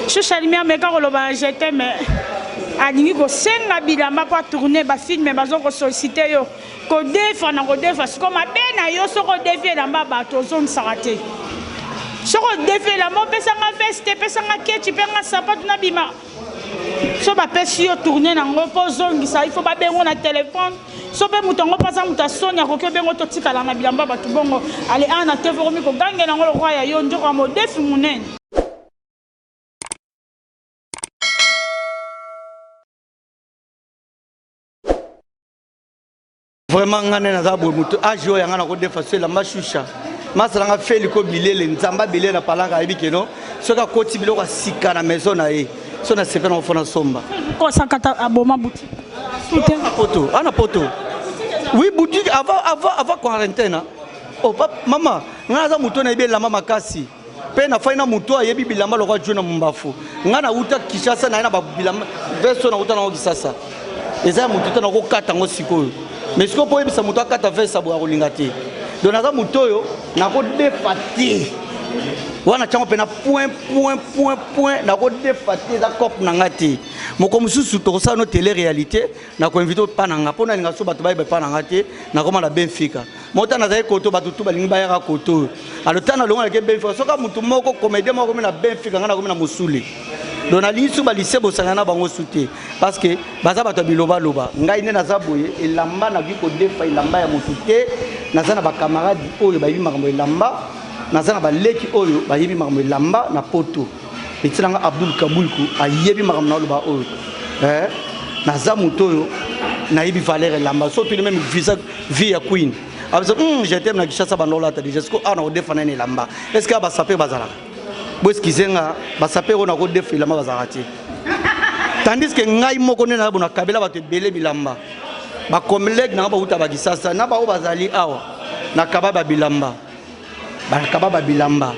shusha lumière meka koloba na je t'aime alingi kosenga bilamba mpo atourne bafilme bazo kosollicite yo kodefa na kodefa siko mabe na yo soki odefi elamba bato ozongisaka te soki odefi elamba opesanga veste pesanga kechi mpe nga sapatu na bima so bapesi yo tourne nango mpo ozongisa il faut babengo na telefone so mpe moto yango mpo aza moto ya soni akoki obengo totikala na bilamba ya bato bongo ale awa na tv okomi kogangela yango lokwa ya yo njoko ya modefi monene vraiment ngai nde naza boye moto age oyo yanga nakodefa so elamba shusha masala nga feli ko bilele nzambe abele na palaka ayebi keno soki akoti biloko asika na maison na ye so na sepe nango fona somba kosakata aboma buti ana poto ana poto oui boutique avant avant avant quarantaine oh papa mama ngai naza moto nayebi elamba makasi mpe nafai na moto oyo ayebi bilamba lokola jona mombafu ngai nauta kishasa naye na babilamba veste oyo nauta nango kisasa eza ya moto te nakokata yango sikoyo me sikoyo mpo oyebisa moto akata veste aboye akolinga te don naza moto oyo nakodefa te wana ntango mpe na point point point point nakodefa te eza cope na ngai te moko mosusu tokosala no tele réalité na koinvite epa na nga mpo na linga so bato bayeba epa na nga te nakoma na benfica mo ntango nazali koto bato tu balingi bayaka koto oyo alo ntango nalongolaki ye benfica soki motu moko comédien moko akomi na benfica ngai nakomi na mosule donc nalingi su balise bosangana na bango su te parce que baza bato ya bilobaloba ngai nde naza boye elamba nakoki kodefa elamba ya motu te naza na bacamarade oyo bayebi makambo elamba naza na baleki oyo bayebi makambo elamba na poto Petit na nga Abdul Kabulku ayebi makambo na oloba oyo eh, naza moto oyo nayebi valeur elamba so tuni meme visa vie ya queen abisa ah, mm, je t'aime na Kinshasa banda olata déjà siko awa ah, nakodefa nani elamba est ce que basaper bazalaka boeskize nga basaper oyo nakodefa elamba bazalaka te tandis que ngai moko nde nayabo nakabela bato ebele bilamba bacollègue nanga bauta bakisasa na baoyo bazali awa nakaba babilamba bakaba ba bilamba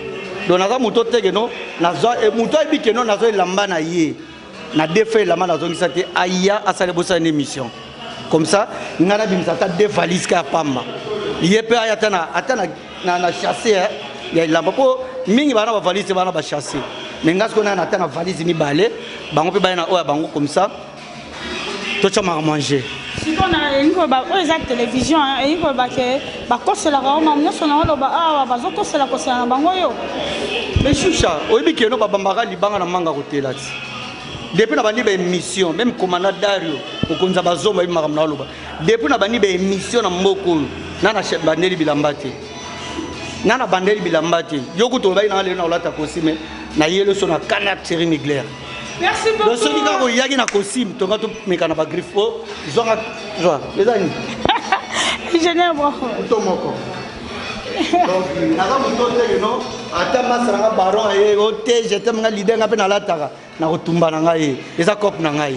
donc naza moto oteke no nazwa eh, moto ayebi ke no nazwa elamba na ye na defa elamba nazongisa te aya asala bosala na émission comme ça ngai nabimisa ata de valise ka ya pamba ye mpe aya ata na, ata na, na, na chasse eh, ya elamba mpo mingi bana bavalise bana bachasse me ngai sikoyo naya na ata na valise mibale bango mpe baya na oyo ya bango comme ça totya maka mange siko na elingi koloba oyo eza télévision elingi koloba ke bakoselaka yo mamu nyonso na oloba awa bazokosela kosela na bango yo mesusha oyebi keno babambaka libanga na manga kotela ti depuis na bandi baémission meme komanda dario mokonzi ya bazombo ayebi makambo na oloba depuis na bandi baémission na mboka oyo na na bandeli bilamba te na na bandeli bilamba te yo kutu olobaki nanga lelo na kolata kosime na yeli so na canard série miglaire Merci beaucoup. Donc soki kaka oyaki na costume tonga tomeka na ba griffe po oh, zwanga zwa eza nini? Ingénieur bravo. Moto moko. Donc naza moto te no ata masa na nga baron aye o te je t'aime nga leader nga mpe nalataka nakotumba na ngai eza cope na ngai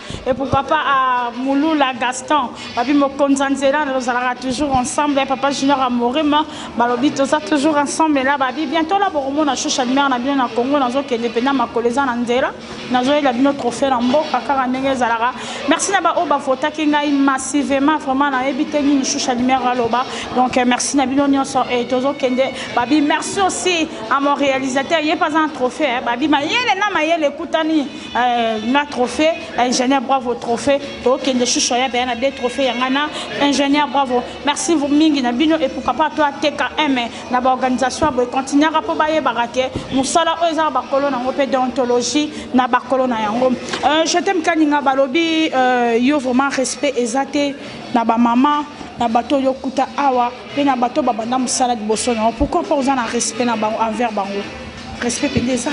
et pour papa à Mouloula Gaston babi mokonza nzela tozalaka toujours ensemble et papa junior amorima balobi toza toujours ensemble ela babi bientôt la bokomona shusha mare na bino na congo nazokende mpena makolo eza na nzela nazoyela bino trophée na mboka kaka ndenge ezalaka merci na baoyo bavotaki ngai massivement vraiment nayebi te nini shusha mare aloba donc euh, merci na bino nyonso e tozokende babi merci aussi à mon réalisateur ye mpe aza na trophée babi mayele na mayele ekutani Euh, na trophée ingénieur bravo trophée tokende susu aya beya na de trophée yanga na ingénieur bravo merci mingi na bino et pourquoi pas to ateka m na baorganisation ya boye continuaka mpo bayebaka ke mosala oyo ezaka bakolo na yango mpe deontologie na bakolo na yango euh, je t'aime kaninga balobi euh, yo vraiment respect eza te na bamama na bato oyo okuta awa mpe na bato babanda mosala liboso na yango pourquoi mpo oza na respect na bango envers bango respect mpenza eza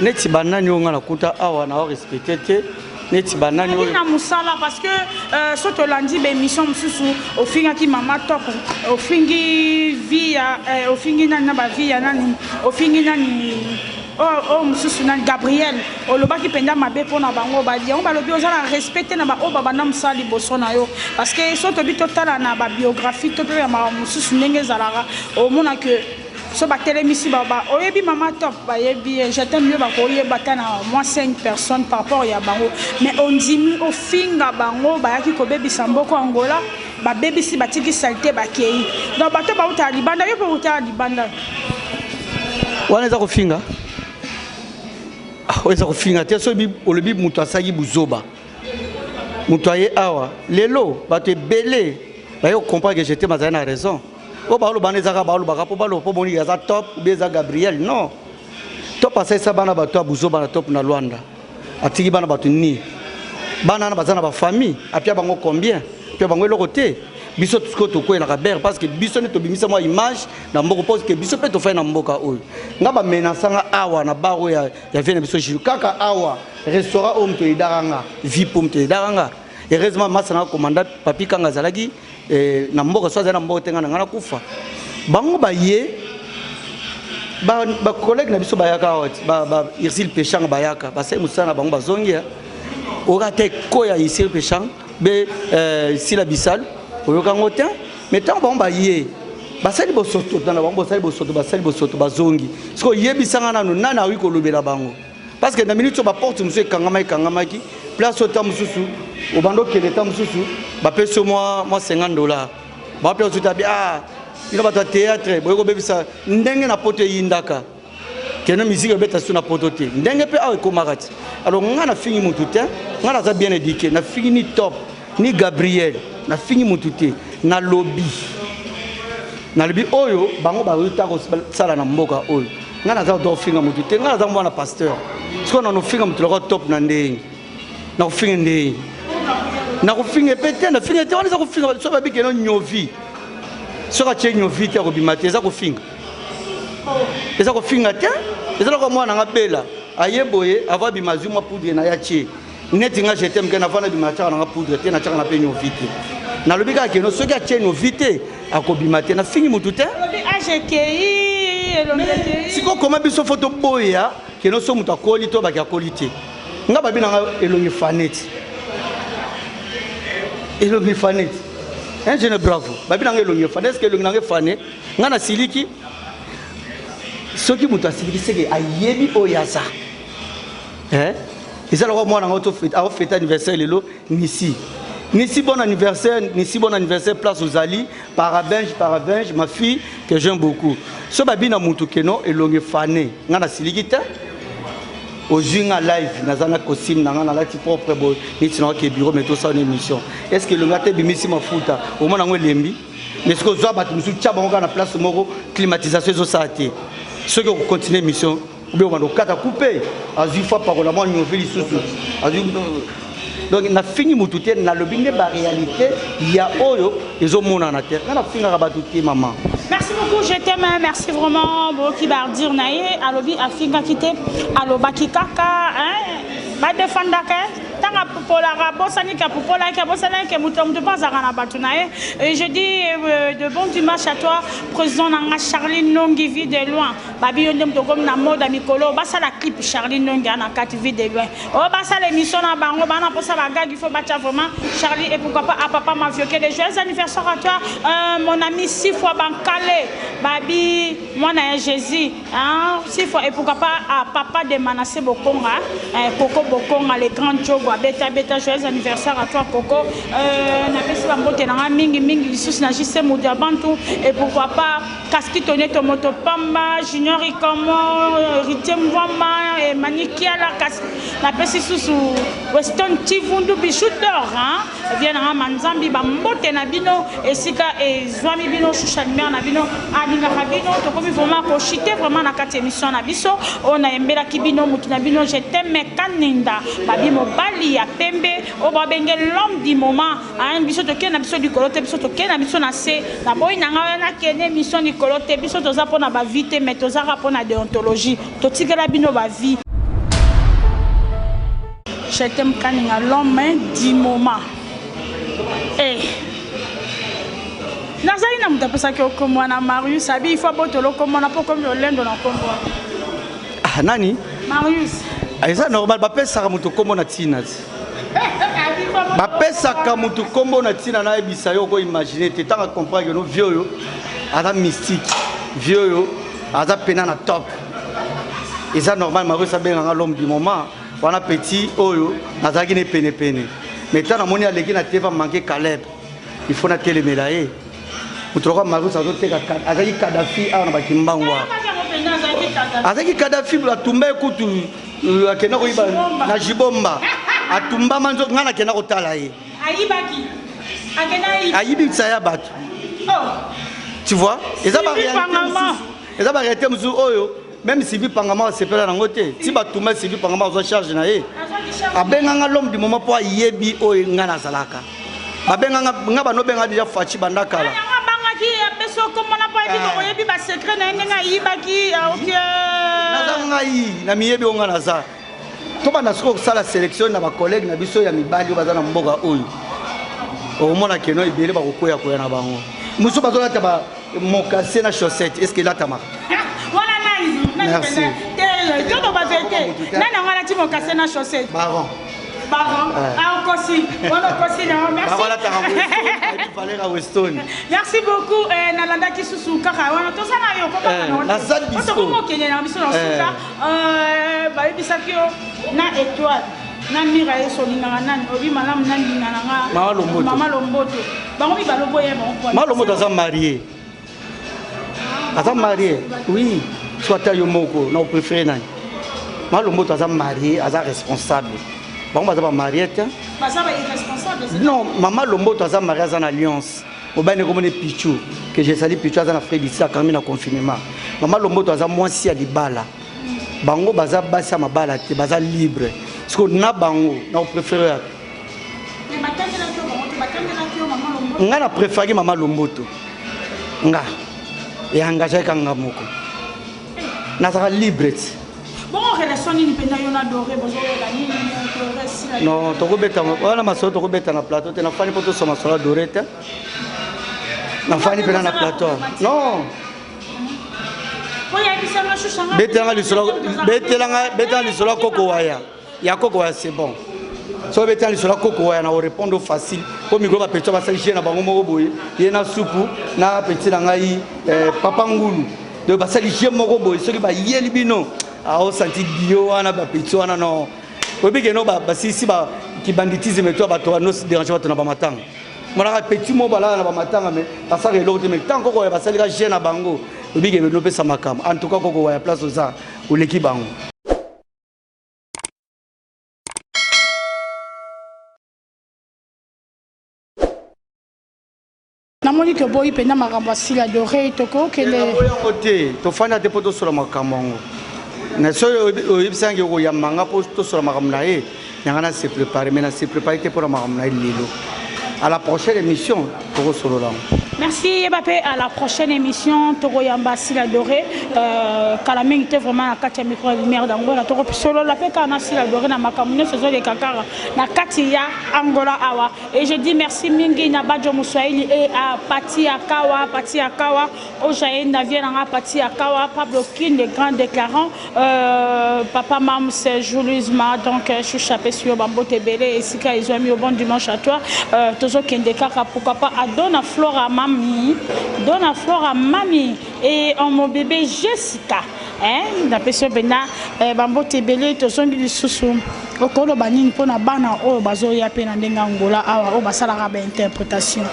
neti banani oyo ngai nakuta awa na respecte te neti banani oyo na musala parce que euh, so tolandi baémission mosusu ofingaki mama top ofingi vie ya euh, ofingi nani na bavie ya nani ofingi nani oyo oh, oh, mosusu nani gabriel olobaki mpenza mabe mpo na bango badi yango balobi oza na respect te na baoyo babanda mosala liboso na yo parce que so tobi totala na babiographie to mpe ya makambo mosusu ndenge ezalaka omona ke so batelemisi baba oyebi mama top bayebi ye je t'aime yo bakoyeba ata na mwa 5 personnes par rapport ya bango mais ondimi ofinga bango bayaki kobebisa mboko angola babebisi batiki salite bakei donc bato bautala libanda yo mpe outala libanda wana eza kofinga ah, eza kofinga te so olobi moto asalaki buzoba moto aye awa lelo bato ebele baye kokomprendre que jete mazali na raison oyo baoloba wana ezaka baolobaka mpo baloba mpo boni aza top obi eza gabriel non top asalisa bana bato ya buzoba na top na lwanda atiki bana bato nini bana wana baza na bafamille apia bango combien apia bango eloko te biso sikoyo tokwelaka bere parce que biso nde tobimisa mwa image na mboka parce que biso mpe tofai na mboka oyo nga bamenasa nga awa na bar oyo ya, ya vie na biso jino kaka awa restaurant oyo moto edaka nga vi mpo moto edaka nga heureusement masa na nga komanda papi kanga azalaki eh, na mboka so azali na mboka te ngai na ngai nakufa bango baye bacollègue ba na biso bayaka awa ba, ba, irsile peshanga bayaka basali mosala na bango bazongi eh. oyoka ata eko ya irsile peshanga be eh, sila bisalu oyoka yango te me ntango bango baye basali bosoto na bango bosali bosoto basali bosoto bazongi sikoyo yebisanga nano nani akoki kolobela bango parce que na minute oyo baporte mosusu ekangamaki kangamaki place oyo ta mosusu obanda okende ta mosusu bapesi yo mwa 50 dollar bawapi osusu tabi a bino bato ya théâtre boye kobebisa ndenge na poto eyindaka keno miziki obeta susu na poto te ndenge mpe awa ekomaka ti alors ngai nafingi motu te ngai naza bien éduqué nafingi ni top ni gabriel nafingi mutu te nalobi nalobi oyo bango bayota kosala na mboka oyo ngai naza kotoka kofinga motu te ngai naza mwana pasteur sikoyo na nofinga motu lokola top na ndenge na kofinga ndenge na kofinga mpe te nafinga te wana eza kofinga soki babikeno nyovi soki atye nyovi te akobima te eza kofinga eza kofinga te eza lokola mwana nanga bela aye boye avo abima azwi mwa poudre na ye atye neti nga je t'aime ke na vana bima chaka na poudre te na chaka na pe nyovi te na lobi kaka keno soki atie nyovi te akobima te na fingi mutu te lobi age kei elongi kei siko koma biso fo to boya keno so mutu akoli to baki akoli te nga babi na nga elongi faneti elongi faneti un jeune bravo babi na nga elongi fane est ce que elongi na nga fane nga na siliki soki mutu asiliki seke ayebi oyo aza eh eza lokola mwana ngo to fete au fete anniversaire lelo nisi nisi bon anniversaire nisi bon anniversaire place ozali parabenge parabenge ma fille que j'aime beaucoup so babi na mutu keno elongi fane nga na siliki te ozwi nga live naza na costume na nga nalati propre boye neti na oke bureau mais tosala na émission est ce que elongi ata ebimisi mafuta omona yango elembi mais soki ozwa bato mosusu tya bango kaka na place moko climatisation ezosala te soki okocontinue émission obe okanda okata kupe azwi fo apakola mwa nyovi lisusu azwi donc nafingi motu te nalobi nde baréalité ya oyo ezomonana te nga nafingaka bato te mama merci beaucoup je t'aime merci vraiment boyoki baardir na ye alobi afingaki te alobaki kaka badefandaka ntango apupolaka abosaniki apupolaki abosanaki ke moto ya moto mpe azalaka na bato na ye je dis euh, de bon dimanche à toi président na nga charline nongivi de loin babi yo nde moto okomi na mode ya mikolo oyo basala clip charlie ndonge ana kati vie de loin oyo basala émission na bango bana mposa bagagi fo batya vraiment charlie et pourquoi pas à papa mavioke de joyeux anniversaire à toi euh, mon ami sifwa bankale babi mwana ya jésus hein? sifwa et pourquoi pas à papa de manasse bokonga eh, koko bokonga le grand jogo abeta beta joyeux anniversaire à toi koko euh, napesi bambote na ngai mingi mingi lisusu na jise moto ya bantu et pourquoi pas Kaski tone to moto pamba junior ikomo heritier mvoma emani kiala kasi napesi susu weston chivundu bijout d'or via nanga manzambi bambote na bino esika ezwami bino chouchanimere na bino alingaka bino tokomi vraiment kochite vraiment na kati émission na biso oyo nayembelaki bino motu na bino je teme kaninda babi mobali ya pembe oyo babenge l'homme du moment Hein, biso tokende na biso likolo te biso tokende na biso na se naboyi na ngai wana kende émission likolo te biso toza mpo na bavie te mais tozaka mpo na deontologie totikela bino bavie je t'aime kaninga l'homme du moment hey. Eh. nazali na moto apesaki okombo wana marius abi ifo abotoli okombo wana mpo okomi olendo na okombo wana ah, nani marius ah, eza normal bapesaka moto okombo na tina bapesaka motu nkombo na ntina nayebisa yo oko imagine te ntango acomprendre no vie oyo aza mystique vie oyo aza mpena na top eza normal maros abenga nga l'homme du moment wana petit oyo nazalaki ne penepene mais ntango namoni aleki na teva manke caleb il faut natelemela ye moto lokola maros azoteka azalaki kadafi awa na bakimbangu awa azalaki kadafi atumba ye kutu oyo akenda koyiba na jibomba atumbama nzoto ngai nakenda kotala ye ayibaki akenda ayiba ayibi nsa ya bato oh. tu vois eza ba réalité mosusu eza ba réalité mosusu oyo même sivi pangama asepela nango te ti batuma sivi pangama azwa charge na ye abenganga l'homme du moment mpo ayebi oyo ngai nazalaka babenga nga bano benga deja faci banda kala abangaki apesi okombo na mpo yebi eh. bokoyebi basekret na ye ndenge ayibaki aoki ah, naza ngai na miyebi oyo nga naza tobanda soki kosala sélection na bacollègue na biso ya mibali oyo baza na mboka oyo okomona keno ebele bakokwea koya na bango mosusu bazolata Mokase na chaussette, est-ce que elatamaka? Wana nani? Merci. Toto ba vérité. Nani yango alati mokase na chaussette? Baron. Baron. Ah, okosi. Wana okosi na merci. Baron alataka Weston. Valera Weston. Merci beaucoup. Eh, nalandaki susu kaka wana tozala yo kokaka na wana. Nazali biso. Tokoma okende na biso na suka. Eh, bayebisaki yo na étoile. na mira ye solingaka nani obi malamu nalingana nga mama lomboto bango mibale oboya bango pona malo moto aza marie aza marie oui so ata yo moko na oprefere nani malo moto aza marie aza responsable bango baza bamarie te non mama lomboto aza marie aza na alliance mobali ndeko moni pichu que jesali pichu aza na fredisi akangi na confinement mama lomboto aza mwasi ya libala bango baza basi ya mabala te baza libre siko na bango na oprefere nga na préféraki mama lomboto nga eengagaka nga moko nazalaka libre ti non tokobeta wana masolo tokobeta na plateau te nafani mpo tosoma masolo ya dore te nafani mpena na plateau non betelanga lisolo ya koko waya ya koko waya c'est bon so obeti na lisolo ya koko waya na orepondre facile mpo mikolo bapeti basali jeu na bango moko boye ye na supu na peti na ngai eh, papa ngulu donc basali jeu moko boye soki bayeli bino aosanti ah, dio wana bapeti wana no oyebi keno basilisi kibanditisme to bato banosi derange bato na bamatanga monaka peti mo balala na bamatanga me basaka eloko te me ntango koko ya basalika jeu na bango oyebi keno nopesa makambo en tout cas koko waya place oza oleki bango namoni ke oboyi mpenza makambo ya sila dore tokokendeyango te tofanda te mpo tosola makambo yango na soki oyebisi yange okoyamba nga mpo tosola makambo na ye yanga na se prépare mai na se prépare te mpo na makambo na ye lelo à la prochaine émission tokosolola yango merci yeba mpe à la prochaine émission tokoyamba sila dore euh, kala mingi te vraiment na kati ya micro ya lumière d'angola tokosolola mpe kaka na sila dore na makambo nyonso ezoleka kaka na kati ya angola awa et je dis merci mingi na bajo moswahili et à pati ya kawa pati ya kawa Ojaye na vie na nga pati ya kawa Pablo Kin le grand déclarant euh, papa Mams Julius ma donc euh, choucha pesi yo bambote ebele esika ezwami yo bon dimanche à toi euh, tozokende kaka pourquoi pas à Dona Flora mami Dona Flora mami et en mon bébé Jessica hein napesi yo mpena euh, bambote ebele tozongi lisusu okoloba nini mpo na bana oyo bazoya mpe na ndenge angola awa oyo basalaka bainterprétation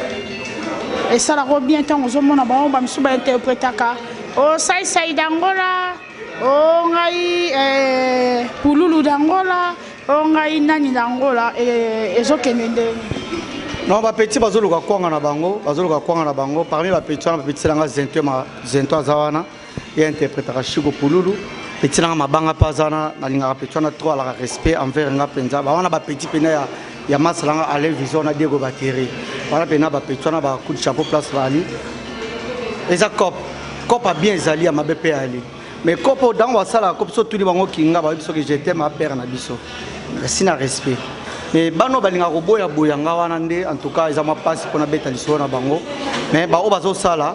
esalaka bien ntango ozomona bango bamisusu bainterpretaka o oh, saisai dangola o oh, ngai eh, pululu dangola o oh, ngai nani dangola eh, ezokende ndenge non bapeti bazoluka kwanga na bango bazoluka kwanga na bango parmi bapeti wana bapetisi na ngai zento zento aza wana ye interpretaka shiko pululu petit nanga mabanga mpe aza wana nalingaka petit wana trop alaka respect envers nga mpenza bawana bapetit mpena ya, ya masala nga alain vision na diego bateri wana mpena bapetit wana bacoup de chapeau place baali eza cop cop abien ezali ya mabe mpe ali mais cop oyo ntango basalaka cop so tuni bango kinga bayebi soki jetem apere na biso merci na respect mais bano balingaka koboyaboya nga wana nde en tout cas eza mwa mpasi mpo nabeta lisolo na bango mais baoyo bazosala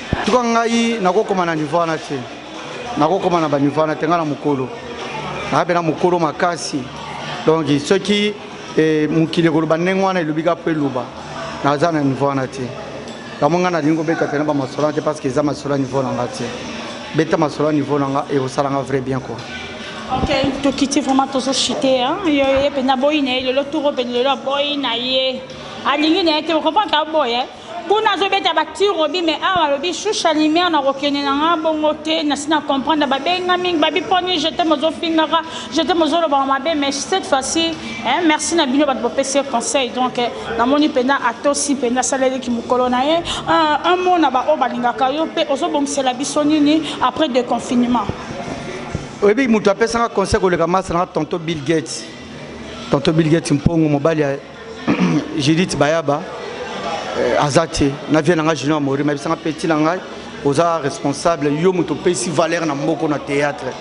tuka ngai nakokoma na nivo wana te nakokoma na banivo wana te ngai na mokolo naza mpe na mokolo makasi donc soki eh, mokili ekoloba ndenge wana elobi ka mpo eloba naza na nivo wana te yango ngai nalingi kobeta mpe na bamasolo wana te parce que eza masolo ya nivo na ngai te beta masolo ya nivo na ngai ekosala ngai vrai bien quoi ok tokiti vraiment tozochite yo ye mpenza aboyi na ye lelo tour obe lelo aboyi na ye alingi na ye te okomprendre aboye kuna azobeta ba tirobi mais awa alobi shusha lumière nakokende na nga bongo te nasi na comprendre babenga mingi babi poni jete mozofingaka jete mozolobaka mabe mais cette fois-ci eh, merci na bino bato bopesi ye conseil donc eh, namoni mpenza atosi mpenza asaleleki mokolo na ye un mot na baoyo balingaka yo mpe ozobongisela biso nini après de confinement oyebi moto apesaka conseil koleka masa nanga tonto bill gates tonto bill gates mpongo mobali Judith Bayaba euh, aza te na vie na ngai Junior Mori mayebisa nga petit na ngai oza responsable yo moto opesi valeur na mboko na théâtre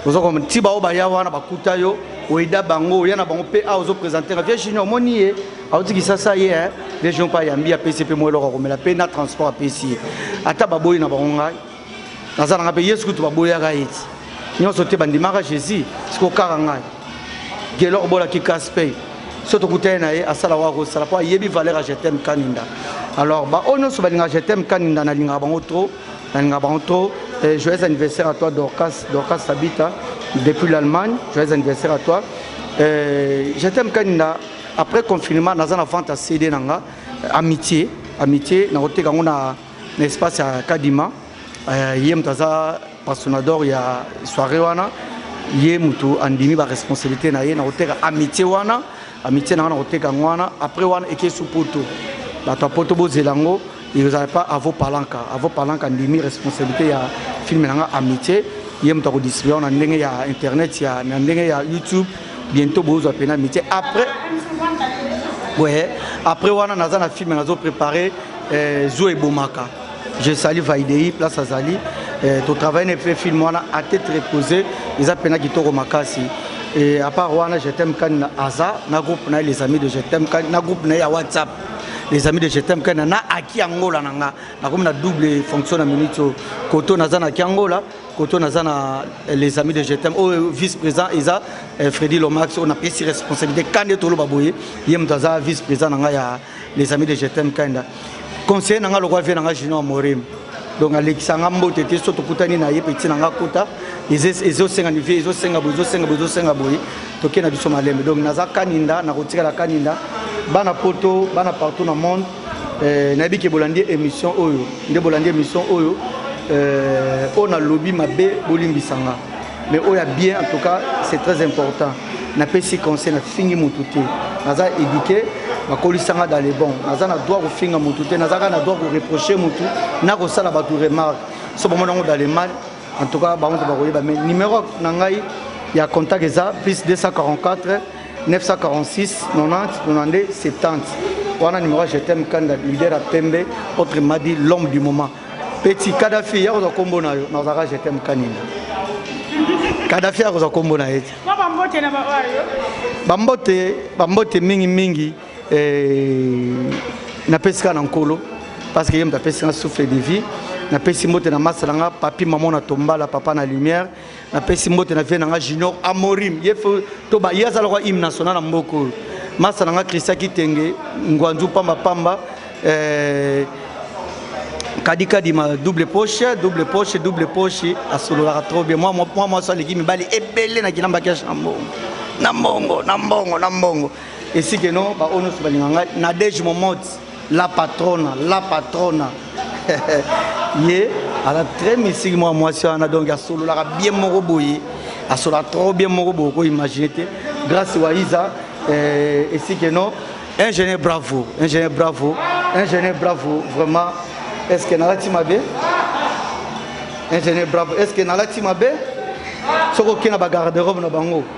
oza koma ti baoyo baya wana bakuta yo oyeda bango oya na bango mpe awa ozopresente nga vie Junior omoni ye auti kisasa ye eh, vie Junior mpe ayambi apesi mpe mwa eloko akomela mpe na transport apesi ye ata baboyi na bango ngai naza nanga mpe yesu kutu baboyaka ye ti nyonso te bandimaka jésus sikoyo kaka ngai gelor bolaki kasi mpe so tokutani na ye asala waka kosala mpo ayebi valeur ya jetem kaninda alors baoyo nyonso balingaka jetem kaninda nalingaka bango trop nalingaka bango trop eh, joyeux anniversaire à toi dorcas dorcas sabita depuis l'allemagne joyeux anniversaire à toi eh, jetem kaninda après confinement naza na vente ya cd na nga amitié amitié nakoteka yango na na espace ya kadima euh, ye moto aza pastonador ya soirée wana ye moto andimi baresponsabilité na ye na koteka amitié wana amitié na nga na koteka yango wana après wana ekei su poto bato ya poto bozela yango ezala pa avo palanka avo palanka andimi responsabilité ya filme na nga amitié ye moto akodistribue yango na ndenge ya internet ya na ndenge ya youtube bientôt bozwa mpena amitié après boye après wana naza na filme nazo préparer eh, zo ebomaka je sali vaidei place azali eh, totravaille na mpe film wana a tete repose eza mpena kitoko makasi et à part wana je t'aime kani na aza na groupe na ye les amis de je t'aime kani na groupe na ye ya whatsapp les amis de je t'aime kani na aki angola na nga nakomi na double fonction na minute oyo koto naza na aki angola koto naza na eh, les amis de je t'aime oyo oh, vice président eza eh, fredi lomax oyo napesi responsabilité kani ete oloba boye ye moto aza vice président na nga ya les amis de je t'aime kanda conseiller na nga lokola vie na nga junior morim donc alekisa nga mbote te so tokutani na ye peti na nga kota ezosenga nivie ezosenga boye ezosenga boye ezosenga boye tokei na biso malembe donc naza kaninda nakotikala kaninda bana poto bana partout na monde eh, nayebi ke bolandi émission oyo nde bolandi émission oyo eh, oyo nalobi mabe bolimbisa nga mais oyo ya bien en tout cas c'est très important napesi conseil nafingi motu te naza éduqué bakolisanga dans le bon naza na droit kofinga motu te nazaka na droit koreproche motu na kosala bato remarque so bamona yango dans le mal en tout cas bango nde bakoyeba mais numéro na ngai ya contact eza plus 244 946 90 92 70 wana numéro je t'aime kanda leader ya pembe autre madi l'homme du moment Petit Kadhafi ya kozwa kombo na yo na ozaka je t'aime kanina. Kadhafi ya kozwa kombo na ye. Ba bambote na ba oyo. Bambote bambote mingi mingi eh napesi ka na nkolo parce que ye moto apesi nga souffle de vie napesi mbote na masa na nga papi mama na tombala papa na lumière napesi mbote na vie na nga junior amorim ye to ba ye aza lokola hymne national na mboka oyo masa na nga christian kitenge ngwanzu pamba pamba eh, kadikadi ma double poche double poche double poche asololaka trop bien mwa mwa mwasi aleki mibali ebele na kilamba keshe na mbongo na mbongo na mbongo na mbongo esikeno baoyo nyonso balinga ngai nadege momoti La patrona, la patrona. ye aza très mystique mwa mwasi wana donc asololaka bien moko boye asololaka trop bien moko boye okoimagine te grâce waiza eh, esike non ingénieur bravo ingénieur bravo ingénieur bravo vraiment est ce que nalati mabe ingénieur bravo est ce que nalati mabe soki okei na bagarde robe na bango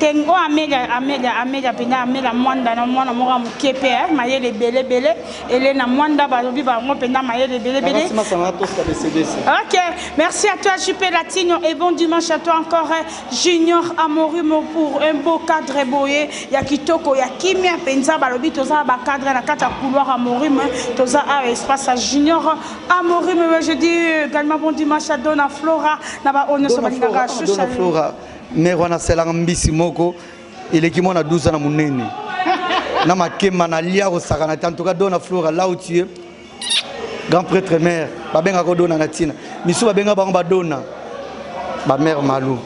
Ken oyo amega amega amega mpenza amega mwanda na mwana moko ya moke mpe eh, mayele ebelebele elena mwanda balobi bango mpenza mayele ebelebele ok merci à toi jupe latino et bon dimanche à toi encore eh, junior amorimo pour un beau cadre boye ya kitoko ya kimia mpenza balobi toza na bacadre na kati ya couloir amorime eh, toza awa espace ya junior amorime je dis également bon dimanche à dona flora na baoyo nyonso balingaka shusha Mère wana asalaka mbisi moko eleki mwana 12 ans na munene na makemba na lia kosakana te en tout cas dona flora là où tu es grand prêtre mère babengaka odona na ntina misu babenga bango badona bamère malou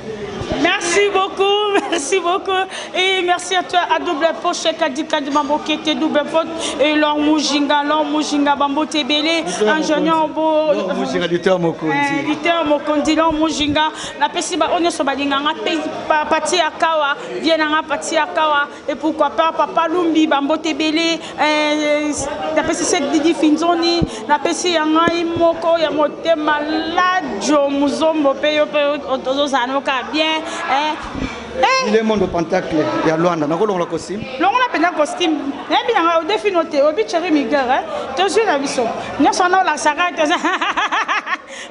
merci beaucoup merci beaucoup. Et merci à toi, à double poche, Kadika de Mambokete, double poche, et l'or Mujinga, l'or Mujinga, Bambo Tebele, ingénieur Beau. L'or Mujinga, Luther Mokondi. Luther Mokondi, l'or Mujinga. napesi baoyo nyonso balinga nga mpe pati ya kawa vie na nga pati ya kawa e pourquoi pas papa lumbi bambote ebele eh, napesi se didi finzoni napesi ya ngai moko ya motema ladio muzombo mpe yo mpe ozozala noka bien eh. Eh. ile mondo pentacle ya lwanda nakolongola costume longola mpenza costume nayebi na ngai odefino te obi cheri miguer tozwi na biso nyonso wana olakisaka te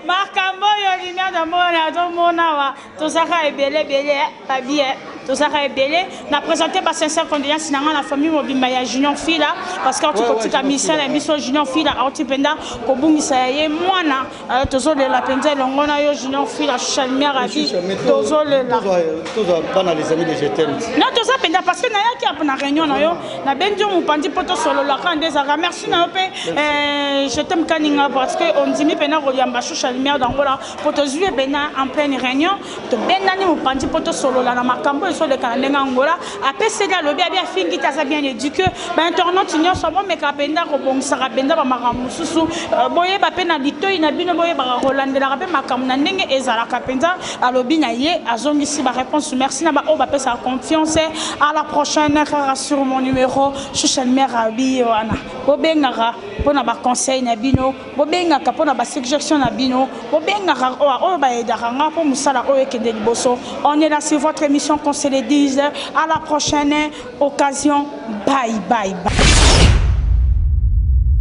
makambo oyo lina na mona azomona awa tozaka ebele ebele eh, babie eh. tozaka ebele na présente ba sincère condoléance na ngai na famille mobimba ya junior fila parce que auti kotika misala ya biso junior fila auti mpenza kobungisa ya ye mwana eh, tozolela mpenza elongo na yo junior fila chalmier abi tozolela non toza mpenza parce que nayaki na réunion na yo nabengi yo mopanzi mpo tosololaka nde ezalaka merci na yo mpe eh, je t'aime kaninga parce que ondimi mpena koyamba shusha lumière d'angola mpo tozwi ebena en pleine réunion tobendani mopanzi mpo tosolola na makambo ezoleka na ndenge angola apeseli alobi abi afingi te aza bien éduque bainternaute nyonso bomeka mpenza kobongisaka mpenza bamakambo mosusu euh, boyeba mpe na litoi na bino boyebaka kolandelaka mpe makambo na ndenge ezalaka mpenza alobi na ye azongisi ba reponse merci na ba oyo bapesaka confiance à la prochaine kaka sur mon numero social mera biye wana bobengaka mpo na baconseil na bino bobengaka mpo na basuggestion na bino bobengaka oyo baedaka nga mpo mosala oyo ekende liboso on est là sur votre émission qu'on se le dise à la prochaine occasion bye bye, bye.